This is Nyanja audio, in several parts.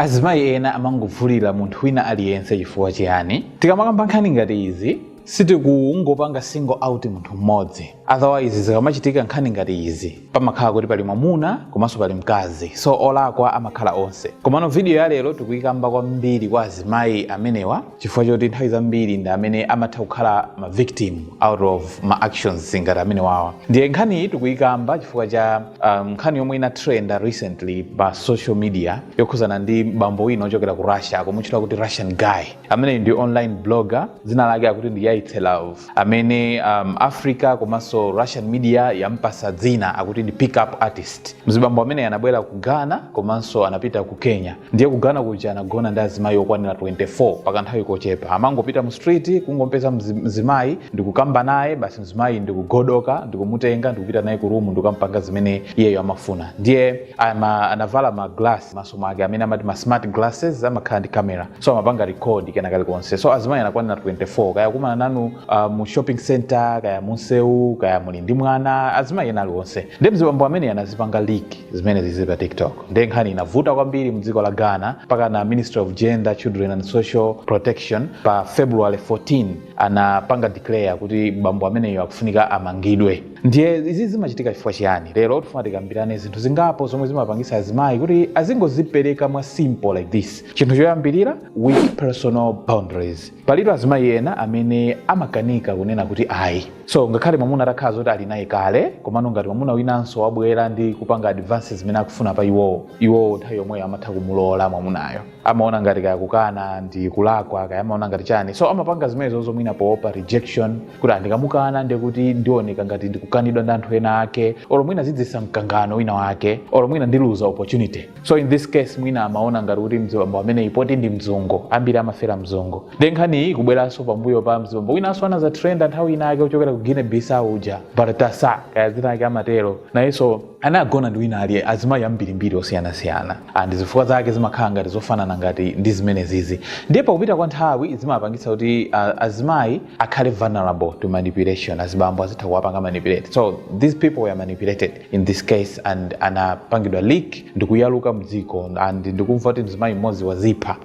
Azimayi ena amangovulira munthu wina aliyense chifukwa chiyani? Tikamakamba nkhani ngati izi sitikungopanga single out munthu mmodzi otherwise zikamachitika nkhani ngati izi pamakhala kuti pali mwamuna komanso pali mkazi so olakwa amakhala onse. Komano video ya lero tikuyikamba kwambiri kwa azimayi amenewa. chifukwa choti nthawi zambiri ndi amene amatha kukhala ma victim out of ma actions ngati amene wawa ndiye nkhani iyi tikuyikamba chifukwa cha um, nkhani yomwe inatrenda recently pa social media yokhuzana ndi bambo wina ochokera ku russia akumutchula kuti russian guy ameneyi ndi online blogger dzina lake akuti ndi yaitse love amene um, africa komanso russian media yampasa dzina akuti ndi pick up artist mzibambo amene anabwera ku ghana komanso anapita ku kenya ndiye ku ghana kuja anagona ndi azimayi okwanira 24 pakanthawi kochepa amangopita mu street kungompeza mzi- mzimayi ndikukamba naye basi mzimayi ndikugodoka ndikumutenga ndikupita naye ku rumu ndikukampanga zimene iyeyo amafuna ndiye ama, anavala ma glass mmaso mwake amene amati ma smart glasses amakhala ndi camera so amapanga record kena kalikonse so azimayi anakwanira 24 kaya kumana nanu uh, mu shopping center kaya munsewu kaya muli ndi mwana azimayi ena aliwonse ndiye mzibambo ameneyo anazipanga leak zimene zili pa tiktok ndiye nkhani inavuta kwambiri mdziko la ghana mpaka na ministry of gender children and social protection pa february 14 anapanga declare kuti bambo ameneyo akufunika amangidwe ndiye izi zimachitika chifukwa chiyani lero tifuna tikambirane zinthu zingapo zomwe zimapangisa azimayi kuti azingozipereka mwa simple like this chinthu choyambirira weak personal boundaries palitu azimayi ena amene amakanika kunena kuti ayi so ngakhale mwamuna atakhala zoti ali naye kale komano ngati mwamuna winanso wabwera ndi kupanga advances zimene akufuna pa iwowo iwowo nthawi yomweyo amatha kumulola mwamunayo amaona ngati kaya kukana ndi kulakwa kaya amaona ngati chani so amapanga zimenezo izo mwina poopa rejection kuti aa ndikamukana ndekuti ndioneka ngati ndikukanidwa ndi anthu ena ake olo mwina zidzisa mkangano wina wake olo mwina ndiluza opportunity so in this case mwina amaona ngati kuti mzibambo ameneyi poti ndi mzungu ambiri amafera mzungu ndiye nkhani iyi kubweranso pambuyo pa mzibambo winanso anaza trend nthawi ina yake kuchokera ku guinea bissau uja baltasa kaya zina lake amatero nayenso anagona ndi wina aliye azimayi ambirimbiri osiyanasiyana and zifukwa zake zimakhala ngati zofanana ngati ndi zimene zizi ndiye pakupita kwa nthawi zimapangitsa kuti uh, azimayi akhale vulnerable to manipulation azibambo azitha kuwapanga manipulate so these people were manipulated in this case and anapangidwa leak ndikuyaluka mdziko and ndikumva kuti mzimayi mmodzi wazipha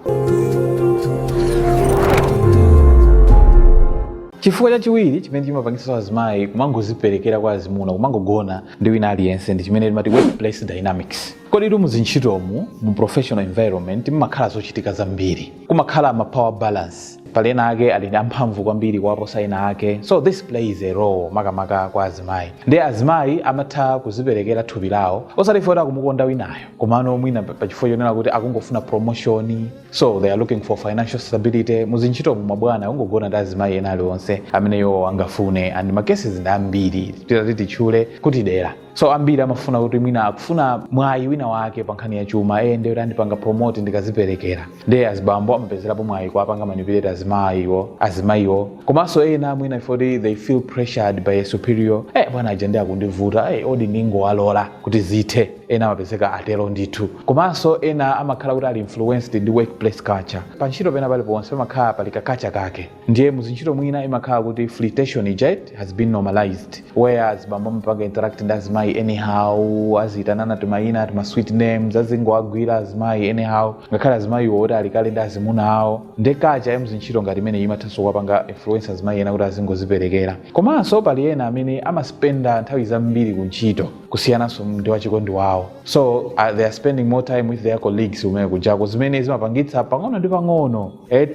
chifukwa chachiwiri chimene chimapangitsa azimayi kumangoziperekera kwa azimuna kumangogona ndi wina aliyense ndi chimene timati workplace dynamics koditu muzintchitomu mu professional environment mmakhala zochitika zambiri kumakhala ma power balance pali ena ake ali amphamvu kwambiri kuwaposa ena ake so this plays a role makamaka kwa azimayi ndiye azimayi amatha kuziperekera thupi lawo osati chifukwa kuti akumukonda winayo komano mwina pa- pachifukwa chonena kuti akungofuna promotion so they are looking for financial stability muzintchitomu mabwana akungogona ndi azimayi ena aliwonse amene iwo angafune and makesi ndi ambiri titati titchule kuti dera so ambiri amafuna kuti mwina akufuna mwayi wina wake pa nkhani ya chuma eye ndiye kuti andipanga promote ndikaziperekera ndiye azibambo amapezerapo mwayi kuwapanga manipulate azimayiwo azimayiwo komanso ena mwina poti they feel pressured by a superior eh bwana aja ndiye akundivuta eh odi ndingowalola kuti zithe ena amapezeka atero ndithu komanso ena amakhala kuti ali influenced ndi workplace culture pa ntchito pena paliponse pamakhala pali kakacha kake ndiye muzintchito mwina imakhala kuti flirtation ija it has been normalized where azibambo amapanga interact ndi azimayi anyhow aziyitanana timayina tima sweet names azingowagwira azimayi anyhow ngakhale azimayiwo oti ali kale ndi azimuna awo ndiye kacha ya muzintchito ngati imeneyi imathanso kuwapanga influence azimayi ena kuti azingoziperekera komanso pali ena amene amaspenda nthawi zambiri ku ntchito kusiyananso ndi wachikondi wawo so uh, they are spending more time with their colleagues kumene kujako zimene zimapangitsa pang'ono ndi pang'ono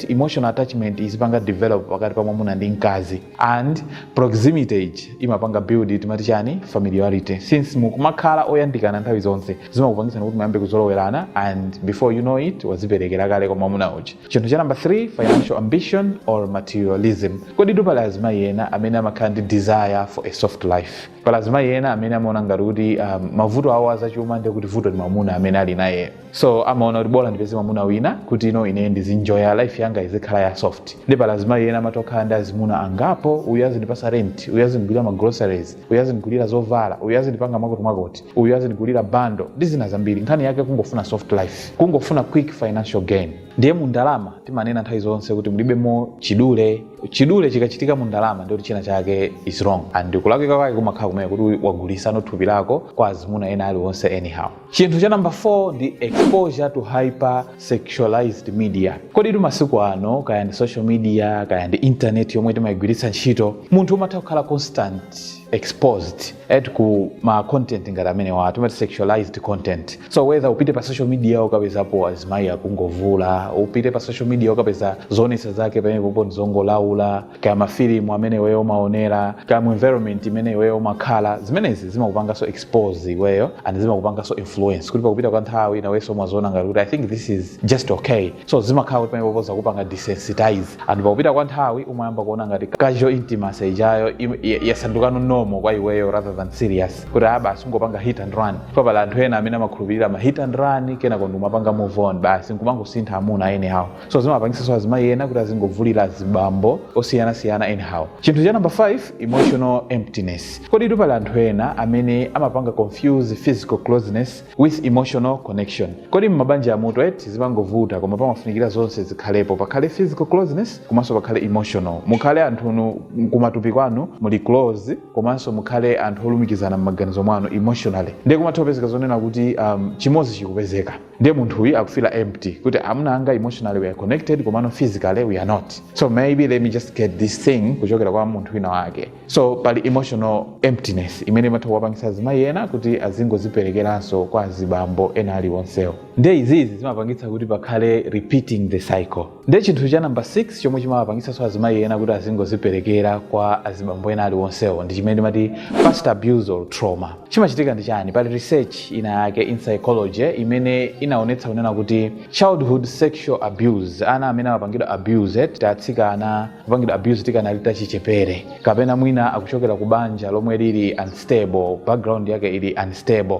emotional attachment izipanga develop pakati pa mwamuna ndi mkazi and proximity ija imapanga build timati chani familiarity since mukumakhala oyandikana nthawi zonse zimakupangitsani kuti muyambe kuzolowerana and before you know it waziperekera kale kwa mwamuna uja chinthu cha number 3 financial ambition or materialism koditu pali azimayi ena amene amakhala ndi desire for a soft life pali azimayi ena amene amaona ngati kuti um, mavuto awo azachuma ndi kuti vuto ndi mwamuna amene ali nayeyo so amaona kuti bola ndipeze mwamuna wina kuti ine ndizinjoya life yanga izikhala ya soft ndiye pali azimayi ena amatokhala ndi azimuna angapo uyu azindipatsa rent uyu azindigulira ma groceries uyu azindigulira zovala uyu azindipanga mwakuti mwakuti uyu azindigulira bundle ndi zina zambiri nkhani yake kungofuna soft life kungofuna quick financial gain ndiye mu ndalama timanena nthawi zonse kuti mulibemo chidule chidule chikachitika mu ndalama ndikuti china chake is wrong and kulakwika kwake kumakhala kumene kuti wagulitsanso thupi lako kwa azimuna ena aliwonse anyhow Chinthu cha number 4 ndi exposure to hyper sexualized media. Koditu masiku ano kaya ndi social media kaya ndi internet yomwe timayigwiritsa ntchito, munthu umatha kukhala constantly exposed ku ma content ngati amenewa timati sexualized content. So whether upite pa social media ukapezapo azimayi akungovula, upite pa social media ukapeza zoonetsa zake pamenepopo ndi zongolaula, kaya mafilimu amene iweyo umaonera kaya mu environment imene iweyo umakhala zimenezi zimakupanganso expose iweyo and zimakupanganso influence kuti pakupita kwa nthawi nawenso umaziona ngati kuti i think this is just okay so zimakhala kuti pamenepopo zakupanga desensitize and pakupita kwa nthawi umayamba kuona ngati casual intimacy ijayo im- ya- yasandukano normal kwa iweyo rather than serious kuti ah basi ungopanga hit and run pali anthu ena amene amakhulupirira ma hit and run kenako ndikumapanga move on basi nkumangosintha amuna anyhow so zimapangisanso azimayi ena kuti azingovulira azibambo osiyanasiyana anyhow chinthu cha number 5 emotional emptiness kodi tu pali anthu ena amene amapanga confuse physical closeness with emotional connection kodi mmabanjamutu eti zimangovuta koma pamafunikira zonse zikhalepo pakhale physical closeness komanso pakhale emotional mukhale anthu kumatupi kwanu muli close komanso mukhale anthu olumikizana mmaganizo mwanu emotionally ndiye kumatha kupezeka zonena kuti um, chimodzi chikupezeka ndiye munthu uyu akufila empty kuti amuna anga emotionally we are connected komano physically we are not so maybe let me just get this thing kuchokera kwa munthu wina wake so pali emotional emptiness imene imatha kuwapangisa azimayi ena kuti azingoziperekeranso kwa azibambo ena aliwonsewo nde izizi zimapangitsa kuti pakhale repeating the cycle ndiye chinthu cha namba 6 chomwe chimawapangitsanso azimayi ena kuti azingoziperekera kwa azibambo ena aliwonsewo ndi chimene timati past abuse or trauma chimachitika ndi chani pali research ina yake in psychology imene inaonetsa kunena kuti childhood sexual abuse ana amene amapangidwa abuse atsikana kupangidwa abuse tikanali tachichepere kapena mwina akuchokera ku banja lomwe lili unstable background yake ili unstable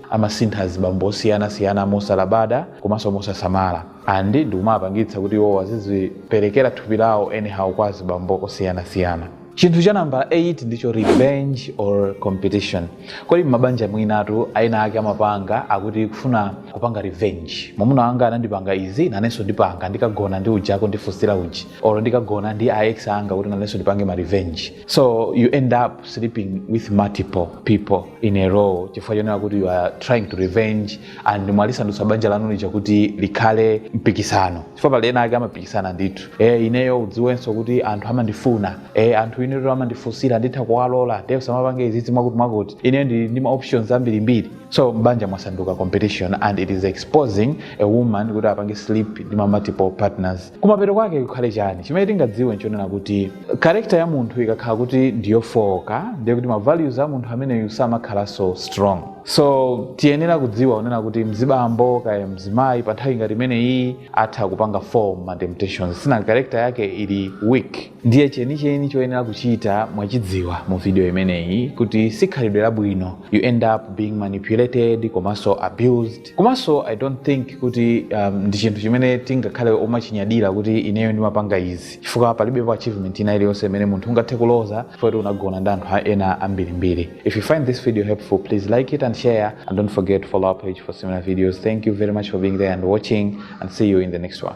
amasintha azibambo osiyana siyana mosalabada komanso mosasamala and ndikumawapangitsa kuti iwowo aziziperekera thupi lawo anyhow kwa azibambo osiyana siyana. Chinthu cha nambala 8 ndicho revenge or competition. Kodi m'mabanja mwinatu ena ake amapanga akuti kufuna kupanga revenge. Mamuna wanga anandipanga izi, nanenso ndipanga, ndikagona ndi uja akundifunsira uja, olo ndikagona ndi a ex anga kuti nanenso ndipange ma revenge. so you end up sleeping with multiple people in a row chifukwa chonena kuti you are trying to revenge and mwalisandutsa banja lanu lija kuti likhale mpikisano chifukwa pali ena ake amapikisana ndithu e, ineyo udziwenso kuti anthu amandifuna e, anthu ineyo amandifunsira nditha kuwalola nde usamapange izizi mwakuti mwakuti ineyo ndili ndi ma options ambirimbiri so mbanja mwasanduka competition and it is exposing a woman kuti apange sleep ndi ma multiple partners kumapeto kwake kukhale chani chimene tingadziwe nchonena kuti karekta ya munthu ikakhala kuti ndiyofooka ndiye kuti mavalues a munthu ameneyu samakhalanso strong so tiyenera kudziwa kunena kuti mzibambo kaya mzimayi pa nthawi ngati imeneyi atha kupanga fall ma temptations since karekta yake ili weak ndiye chenicheni choyenera kuchita mwachidziwa mu video imeneyi kuti si khalidwe labwino you end up being manipulated komanso abused komanso i don't think kuti um, ndi chinthu chimene tingakhale omachinyadira kuti ineyo ndimapanga izi chifukwa palibepo achievement ina iliyonse imene munthu ungathe kuloza chifukwa kuti unagona ndi anthu a- ena ambirimbiri if you find this video helpful please like it and share and don't forget to follow our page for similar videos thank you very much for being there and watching and see you in the next one